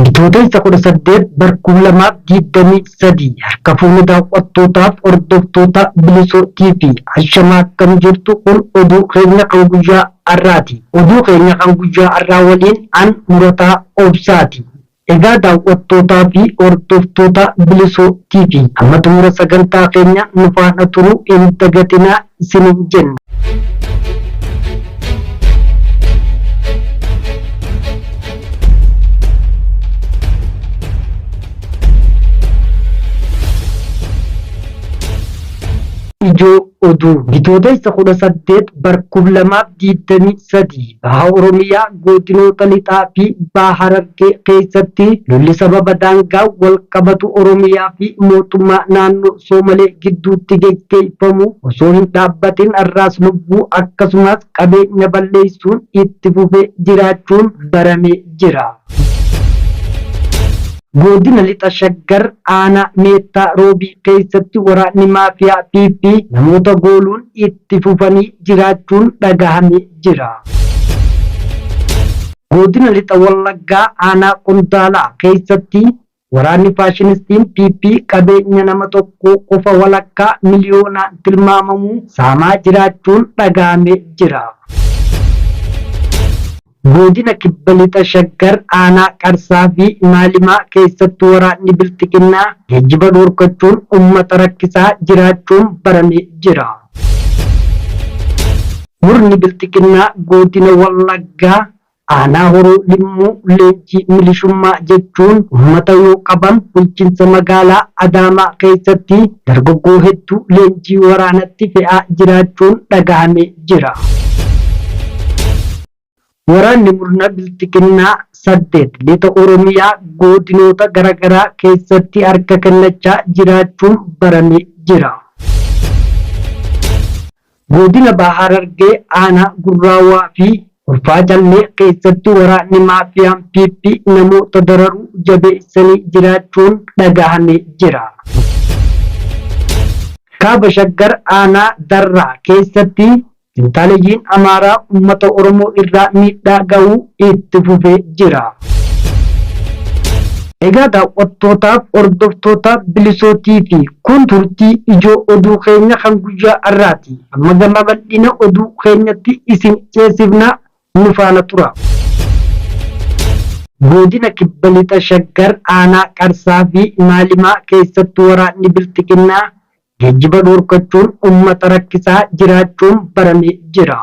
Bitootessa kudha saddeet bara kuma lamaa fi digdamii sadii harka fuunee daawwattootaaf hordoftoota bilisoo TV ashamaa akkam jirtu kun oduu keenya kan guyyaa har'aati. Oduu keenya kan guyyaa har'aa waliin an murataa obsaati. Egaa daawwattootaa fi hordoftoota Bilisoo TV hamma xumura sagantaa keenyaa nu faana turuu hin dagatinaa isiniin jenna. Ijoo Oduu Bitootessa 18 bar 2020 3, Baha Oromiyaa Goodinoota Lixaa fi Baha Harargee keessatti lolli sababa daangaan wal qabatu Oromiyaa fi Mootummaa Naannoo Soomalee gidduutti geggeeffamu osoo hin dhaabbatin arraas lubbuu akkasumaas qabeenya balleessuun itti fufee jiraachuun baramee jira. Goodina Lixa Shaggar Aanaa Meettaa Roobii keessatti waraanni Maafiyaa PP namoota gooluun itti itti fufanii jiraachuun dhagahame jira. Godina Lixa Wallaggaa Aanaa Qondaalaa keessatti waraanni faashinistiin PP qabeenya nama tokkoo qofa walakkaa miliyoonaan tilmaamamu saamaa jiraachuun dhagahame jira. Godina Kibba Lixa Shaggar aanaa Qarsaa fi Maalimaa keessatti waraanni Bilxiginnaa geejjiba dhorkachuun uummata rakkisaa jiraachuun baramee jira. Murni Bilxiginnaa Godina Wallaggaa aanaa Horoo Limmuu leenjii milishummaa jechuun uummata yoo qaban bulchiinsa magaalaa Adaamaa keessatti dargaggoo hedduu leenjii waraanatti fe'aa jiraachuun dhagahamee jira. Waraanni murna bilxiginnaa saddeet lixa Oromiyaa goodinoota garagaraa keessatti harka kennachaa jiraachuun barame jira. Goodina Baha Harargee aanaa Gurraawaa fi Ulfaa Callee keessatti waraanni maafiyaan PP namoota dararuu jabeessanii jiraachuun dhagahamee jira. Kaaba Shaggar aanaa Darraa keessatti fintaaleyyiin Amaaraa uummata Oromoo irraa miidhaa gahuu itti fufee jira. Egaa daawwattootaaf hordoftoota Bilisoo TV kun turtii ijoo oduu keenya kan guyyaa har'aati. Amma gama bal'ina oduu keenyatti isin ceesifna nu faana turaa. Godina Kibba Lixa Shaggar aanaa Qarsaa fi Maalimaa keessatti waraanni Bilxiginnaa geejjiba dhorkachuun uummata rakkisaa jiraachuun baramee jira.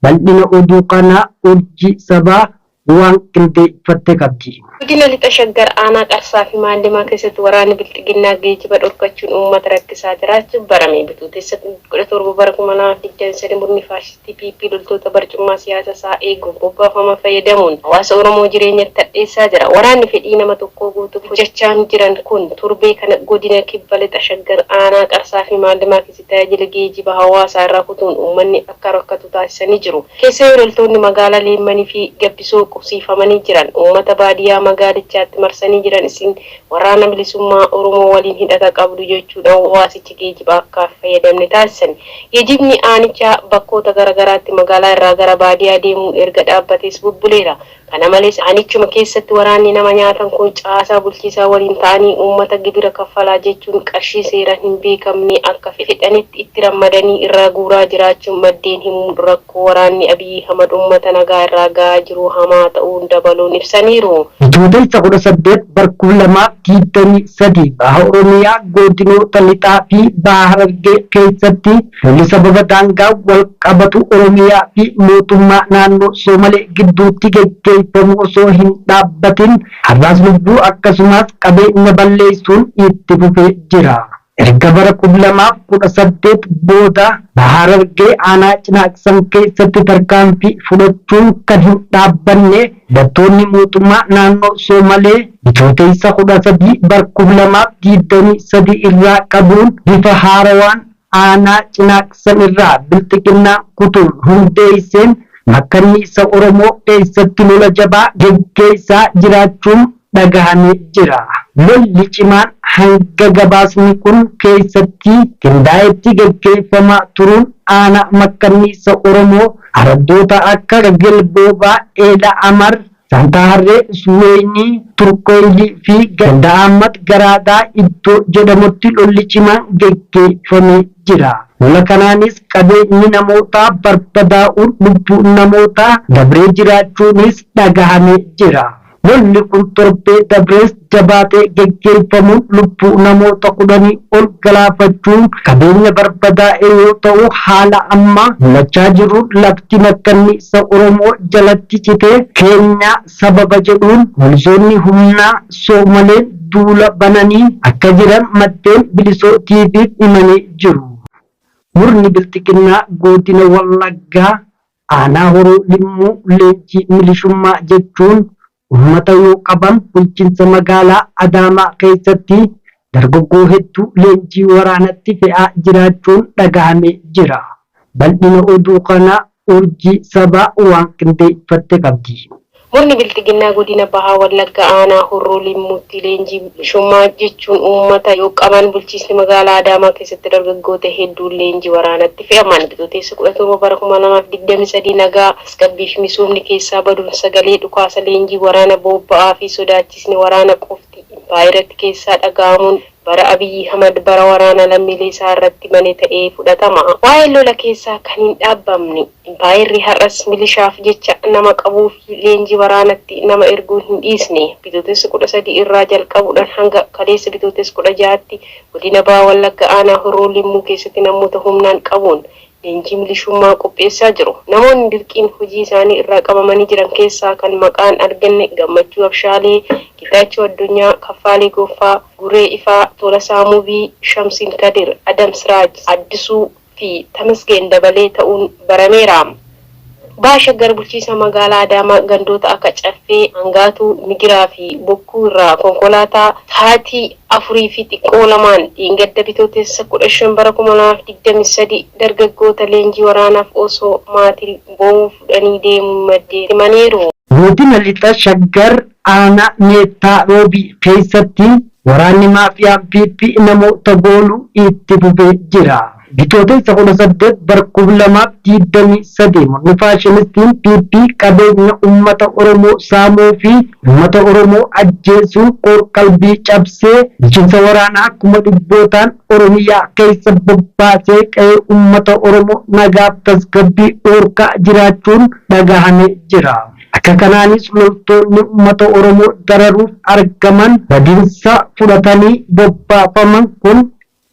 Bal'ina oduu kanaa Urjii Sabaa Waan qindeeffatte qabdi. Godina Lixa Shaggar aanaa Qarsaa fi Maallimaa keessatti waraanni Bilxiginnaa geejiba dhorkachuun uummata rakkisaa jiraachuu barame. Bitootessa 17 bara 2023 murni faashistii PP loltoota barcummaa siyaasa isaa eeguuf bobbaafaman fayyadamuun hawaasa Oromoo jireenyatti hadheessaa jira. Waraanni fedhii nama tokkoo guutuuf hojachaan jiran kun torbee kana godina Kibba Lixa Shaggar aanaa Qarsaa fi Maallimaa keessatti tajaajila geejiba hawaasaa irraa kutuun uummanni akka rakkatu taasisanii jiru. Keessayuu loltoonni magaala Leemmani fi Gabbisoo qubsiifamanii jiran uummata baadiyaa magaalichaatti marsanii jiran isin Waraana Bilisummaa Oromoo waliin hidhata qabdu jechuudhaan waasicha geejiba akka hin fayyadamne taasisani. Geejibni aanichaa bakkoota gara garaatti magaalaa irraa gara baadiyaa deemuun erga dhaabbatees bubbuleera. Kana malees aanichuma keessatti waraanni nama nyaatan kun caasaa bulchiisaa waliin ta'anii uummata gibira kaffalaa jechuun qarshii seeraan hin beekamne akka fedhanitti itti rammadanii irraa guuraa jiraachuu maddeen himuun rakkoo waraanni Abiy Ahimad uummata nagaa irraa ga'aa jiru hamaa ta'uu dabaluun ibsaniiru. Bitootessa 18 bara 2023 Baha Oromiyaa Godinoota Lixaa fi Baha Harargee keessatti Lolli sababa daangaan wal qabatu Oromiyaa fi mootummaa naannoo Soomalee gidduutti geggeeffamu osoo hin dhaabbatin har'aas lubbuu akkasumaas qabeenya balleessuun itti fufee jira. Erga bara kum lamaa fi kudha saddeet booda Baha Harargee aanaa Cinaaqsan keessatti tarkaanfii fudhachuun kan hin dhaabbanne hidhattoonni mootummaa naannoo Soomalee Bitootessa kudha sadii bara kum lamaa fi digdamii sadii irraa qabuun bifa haarawaan Aanaa Cinaaqsan irraa Bilxiginnaa kutuun hundeesseen makkanniisa Oromoo keessatti lola jabaa geggeessaa jiraachuun dhagahamee jira. Lolli cimaan hanga gabaasni kun keessatti qindaa'etti geggeeffamaa turuun aanaa makkanniisa Oromoo araddoota akka Gelboobaa, Eela Amar, Santaa Harree, Suweeynii, Turkoyli fi ganda Ahmad Garaagaa iddoo jedhamutti lolli cimaan geggeeyfamee jira. Lola kanaanis qabeenyi namootaa barbadaa'uun lubbuun namootaa dabree jiraachuuniis dhagahamee jira. Lolli kun torbee dabrees jabaatee geggeeffamuun lubbuu namoota kudhanii ol galaafachuun qabeenya barbadaa'e yoo ta'u haala amma mulachaa jiruun lafti makkanniisa Oromoo jalatti cite keenya sababa jedhuun poolisoonni humnaa Soomaleen duula bananii akka jiran maddeen Bilisoo TV'f himanii jiru. Murni Bilxiginnaa Goodina Wallaggaa Aanaa Horoo Limmuu leenjii milishummaa jechuun uummata yoo qaban bulchinsa magaalaa Adaamaa keessatti dargaggoo hedduu leenjii waraanatti fe'aa jiraachuun dhagahamee jira. Bal'ina oduu kanaa Urjii Sabaa waan qindeeffatte qabdi. Murni Bilxiginnaa Godina Baha Wallaggaa Aanaa Horroo Limmuutti leenjii bilisummaa jechuun uummata yoo qaban bulchiisni magaalaa Adaamaa keessatti dargaggoota hedduun leenjii waraanatti fe'aman Bitootessa 17 bara 2023 nagaa, tasgabbii fi misoomni keessaa baduun sagalee dhukaasa leenjii waraana boobba'aa fi sodaachisni waraana qofti impaayeratti keessaa dhaga'amuun Bara Abiy Ahimad bara waraana lammiilee isaa irratti bane ta'ee fudhatama. Waa'een lola keessaa kan hin dhaabbamne, impaayerri har'as milishaaf jecha nama qabuu fi leenjii waraanatti nama erguu hin dhiisne. Bitootessa 13 irraa jalqabuudhaan hanga kaleessa Bitootessa 16tti godina Baha Wallagga aanaa Horroo Limmuu keessatti namoota humnaan qabuun Leenjii milishummaa qopheessaa jiru. Namoonni dirqiin hojii isaanii irraa qabamanii jiran keessaa kan maqaan arganne Gammachuu Abshaalee, Getaachoo Addunyaa, Kaffaalee Goffaa, Guree Ifaa, Tolasaa Mubii, Shamsiin Kadir, Adam Siraaj, Addisuu, fi Tamasgeen Dabalee ta'uun barameera. Baha Shaggar Bulchiisa Magaalaa Adaamaa gandoota akka Caffee, Angaatuu, Migiraa fi Bokkuu irraa konkolaataa sa'aatii 4 fi xiqqoo lamaan dheengadda Bitootessa 15 bara 2023 dargaggoota leenjii waraanaaf osoo maatiin boo'uu fudhanii deemuu maddeen himaniiru. Godina Lixa Shaggar Aanaa Meettaa Roobii keessatti waraanni Maafiyaan PP namoota gooluu itti fufee jira. Bitootessa 18 bara 2023 murni faashinistiin PP qabeenya ummata Oromoo saamuu fi ummata Oromoo ajjeesuun qoor-qalbii cabsee bulchiinsa waraanaa kuma dhibbootaan Oromiyaa keessa bobbaasee qe'ee ummata Oromoo nagaaf tasgabbii dhoorkaa jiraachuun dhagahamee jira. Akka kanaanis loltoonni ummata Oromoo dararuuf argaman badiinsa fudhatanii bobbaafaman kun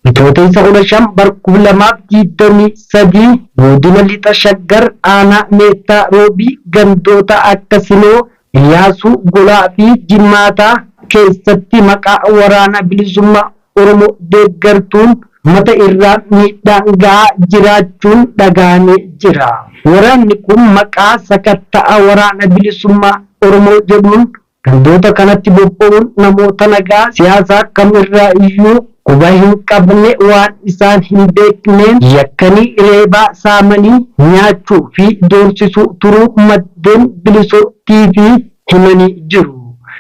Bitootessa 15 bara 2023 Godina Lixa Shaggar Aanaa Meettaa Roobii gandoota akka Sinoo, Iyyaasuu, Golaa fi Jimmaataa keessatti maqaa Waraana Bilisummaa Oromoo deeggartuun ummata irraan miidhaan gahaa jiraachuun dhagahamee jira. Waraanni kun maqaa sakatta'a Waraana Bilisummaa Oromoo jedhuun Gandoota kanatti bobba'uun namoota nagaa siyaasa kam irraa iyyuu quba hin qabne waan isaan hin beekneen yakkanii reebaa, saamanii, nyaachuu fi doorsisuu turuu maddeen Bilisoo TV himanii jiru.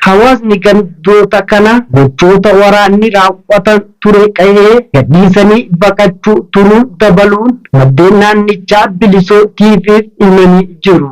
Hawaasni gandoota kana gochoota waraanni raawwatan ture qa'ee gadhiisanii baqachuu turuu dabaluun maddeen naannichaa Bilisoo TV'f himanii jiru.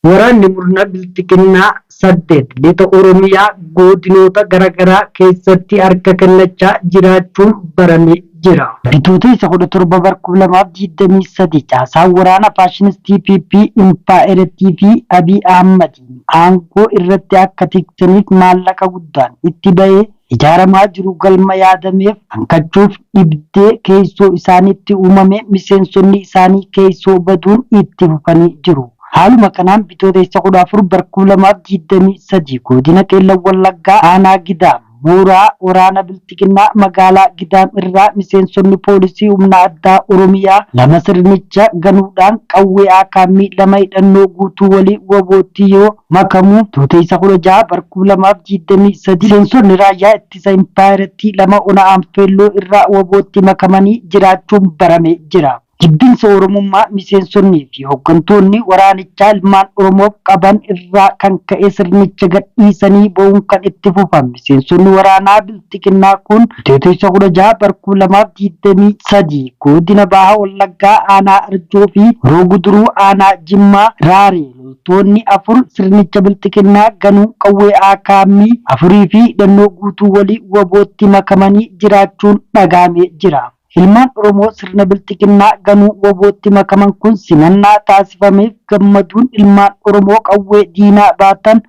Waraanni murna bilxiginnaa 8 lixa Oromiyaa goodinoota garagaraa keessatti harka kennachaa jiraachuun barame jira. Bitootessa 17 bar 2023 caasaan waraana faashinistii PP impaayerattii fi Abiy Ahmadiin aangoo irratti akka tiksaniif maallaqa guddaan itti bahee Ijaaramaa jiru galma yaadameef hanqachuuf dhibdee keessoo isaaniitti uumamee miseensonni isaanii keessoo baduun itti fufanii jiru. Haaluma kanaan Bitootessa 14 bar 2023 Goodina Qeellam Wallaggaa Aanaa Gidaam Mooraa Waraana Bilxiginnaa Magaalaa Gidaam irraa miseensonni Poolisii Humna Addaa Oromiyaa lama sirnicha ganuudhaan qawwee Aakaammii lama hidhannoo guutuu waliin wbo tti yoo makamu Bitootessa 16 bara 2023 miseensonni raayyaa ittisa impaayerattii lama ona Anfeelloo irraa wabootti makamanii jiraachuun barame jira. Jibbinsa Oromummaa miseensonnii fi hoggantoonni waraanichaa ilmaan Oromoof qaban irraa kan ka'e sirnicha gadhiisanii ba'uun kan itti fufan miseensonni waraanaa Bilxiginnaa kun Bitootessa 16 bara 2023 Godina Baha Wallaggaa Aanaa Arjoo fi Horoo Guduruu Aanaa Jimmaa Raaree Loltoonni afur sirnicha bilxiginnaa ganuun qawwee akm afurii fi hidhannoo guutuu waliin wabootti makamanii jiraachuun dhagahamee jira. Ilmaan Oromoo sirna bilxiginnaa ganuun wabootti makaman kun simannaa taasifameef gammaduun ilmaan Oromoo qawwee diinaa baatan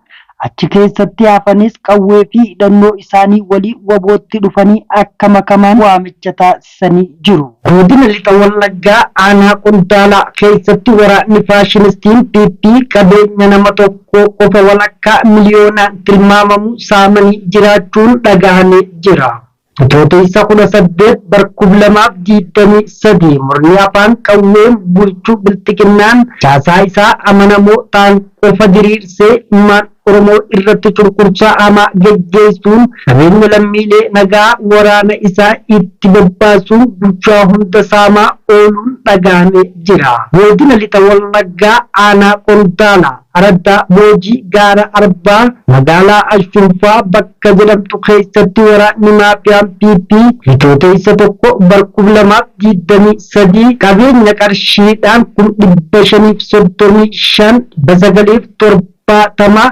achi keessatti hafanis qawwee fi hidhannoo isaanii waliin wabootti dhufanii akka makaman waamicha taasisaniiru. beeksisanii jiru. Godina Lixa Wallaggaa aanaa Qondaalaa keessatti waraanni faashinistiin PP qabeenya nama tokkoo qofa walakkaa miliyoonaan tilmaamamu saamanii jiraachuun dhagahamee jira. Bitootessa 18 bar 2023 murni afaan qawween bulchu bilxiginnaan caasaa isaa amanamoo ta'an qofa diriirsee ilmaan Oromoo irratti cunqursaa hamaa geggeessuun qabeenya lammiilee nagaa waraana isaa itti bobbaasuun bulchaa hunda saamaa ooluun dhaga'amee jira. Godina Lixa Wallaggaa Aanaa Qondaala Araddaa Boojii Gaara Arbaa magaalaa Ashunfaa bakka jedhamtu keessatti waraanni maafiyaan PP Bitootessa 1 bar 2023 qabeenya qarshiidhaan kum 535 dhibba 9 fi 7 kumaatamaa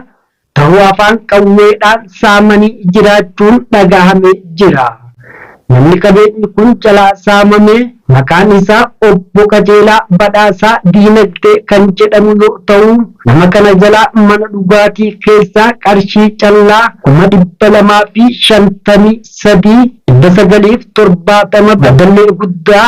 tahu afaan qawweedhaan saamanii jiraachuun dhagahamee jira. Namni qabeenyi kun jalaa saamame maqaan isaa Obbo Qajeelaa Badhaasaa Diinagdee kan jedhamu yoo tahu nama kana jalaa mana dhugaatii keessaa qarshii callaa kuma dhibba lamaa fi shantamii sadii, dhibba sagalii fi torbaatama Baddallee Guddaa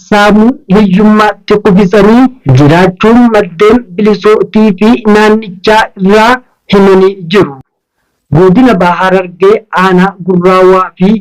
saamuu, hiyyummaatti kufisanii jiraachuun maddeen Bilisoo TV naannichaa irraa himanii jiru. Godina Baha Harargee aanaa Gurraa Waafii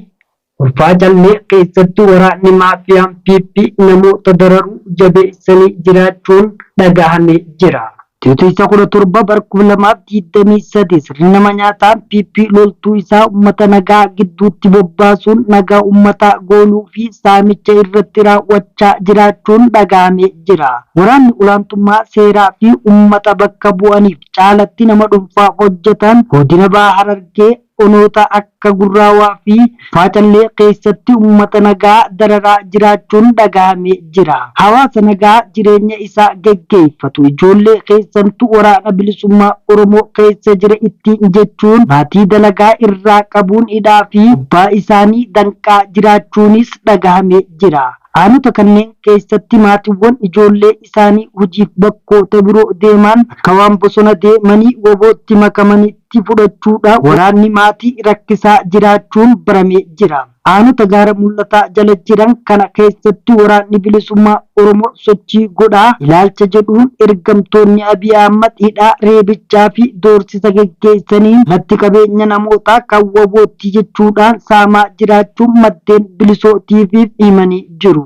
Kurfaa Callee keessatti waraanni maafiyaan PP namoota dararuu jabeessanii jiraachuun dhagahamee jira. Titoisa 17 bara 2023 sirni nama nyaataa PP loltuu isaa uummata nagaa gidduutti bobbaasuun nagaa uummataa gooluu fi saamicha irratti raawwachaa jiraachuun dhaga'amee jira. Waraanni olaantummaa seeraa fi uummata bakka bu'aniif caalatti nama dhunfaa hojjetaan Godina Baha Harargee, onoota akka Gurraawaa fi Faacallee keessatti uummata nagaa dararaa jiraachuun dhagahame jira. Hawaasa nagaa jireenya isaa geggeeffatu ijoollee keessantu Waraana Bilisummaa Oromoo keessa jira ittiin jechuun maatii dalagaa irraa qabuun hidhaa fi abbaa isaanii danqaa jiraachuunis dhagahame jira. Aanota kanneen keessatti maatiwwan ijoollee isaanii hojiif bakkoota biroo deemaan akka waan bosona deemanii wbo tti makamanitti, itti fudhachuudhaan waraanni maatii rakkisaa jiraachuun baramee jira. Aanota Gaara Mul'ataa jala jiran kana keessatti Waraanni Bilisummaa Oromoo sochii godhaa ilaalcha jedhuun ergamtoonni Abiy Ahmad hidhaa, reebichaa fi doorsisa geggeessaniin lafti qabeenya namootaa kan wbo ti jechuudhaan saamaa jiraachuu maddeen Bilisoo TV'f himanii jiru.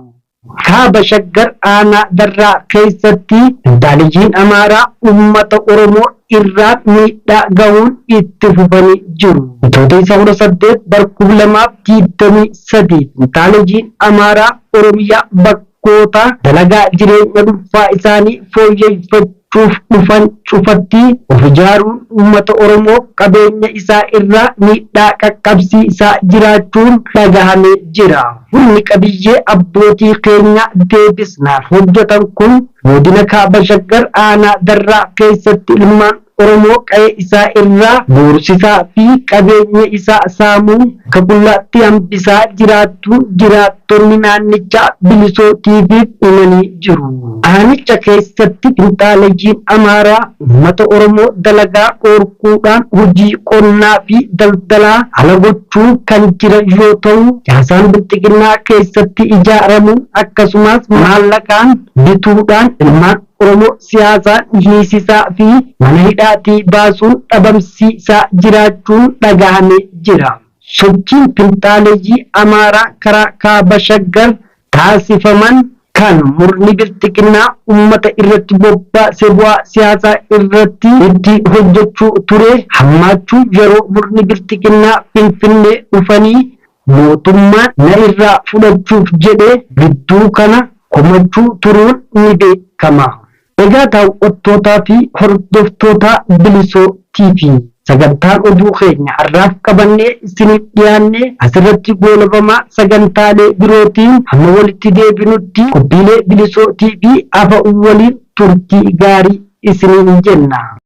Kaaba Shaggar Aanaa Darraa keessatti Finxaaleyyiin Amaaraa uummata Oromoo irraan miidhaa gahuun itti fufanii jiru. Bitootessa 18 bara 2023 Finxaaleyyiin Amaaraa Oromiyaa bakkoota dalagaa jireenya dhunfaa isaanii fooyyeffachuu fudhachuuf dhufan cufatti of ijaaruun uummata Oromoof qabeenya isaa irraa miidhaa qaqqabsiisaa jiraachuun dhagahamee jira. Humni qabiyyee abbootii keenyaa deebisnaaf hojjetan kun Godina Kaaba Shaggar Aanaa Darraa keessatti ilmaan Oromoo qa'ee isaa irraa doorsisaa fi qabeenya isaa saamuun Akka qullaatti hambisaa jiraattuu jiraattonni naannichaa Bilisoo TV'f himanii jiru. Aanicha keessatti finxaaleyyiin Amaaraa uummata Oromoo dalagaa dhoorkuudhaan hojii qonnaa fi daldalaa ala gochuun kan jiran yoo ta'u, caasaan Bilxiginnaa keessatti ijaaramuun akkasumaas maallaqaan bituudhaan ilmaan Oromoo siyaasaan hiisisaa fi mana hidhaatii baasuun dhabamsiisaa jiraachuun dhagahame jira. Sochiin finxaaleyyii Amaaraa karaa Kaaba Shaggar taasifaman kan murni Bilxiginnaa ummata irratti bobbaase bu'aa siyaasaa irratti itti hojjechuu ture hammaachuu yeroo murni Bilxiginnaa Finfinnee dhufanii mootummaan na irraa fudhachuuf jedhee gidduu kana komachuu turuun ni beekama. Egaa daaw'attootaa fi hordoftootaa Bilisoo TV, sagantaan oduu keenya har'aaf qabannee isiniif dhiyaanne asirratti goolabama, sagantaalee birootiin hamma walitti deebinutti qophiilee Bilisoo TV hafan waliin turtii gaarii isiniin jenna.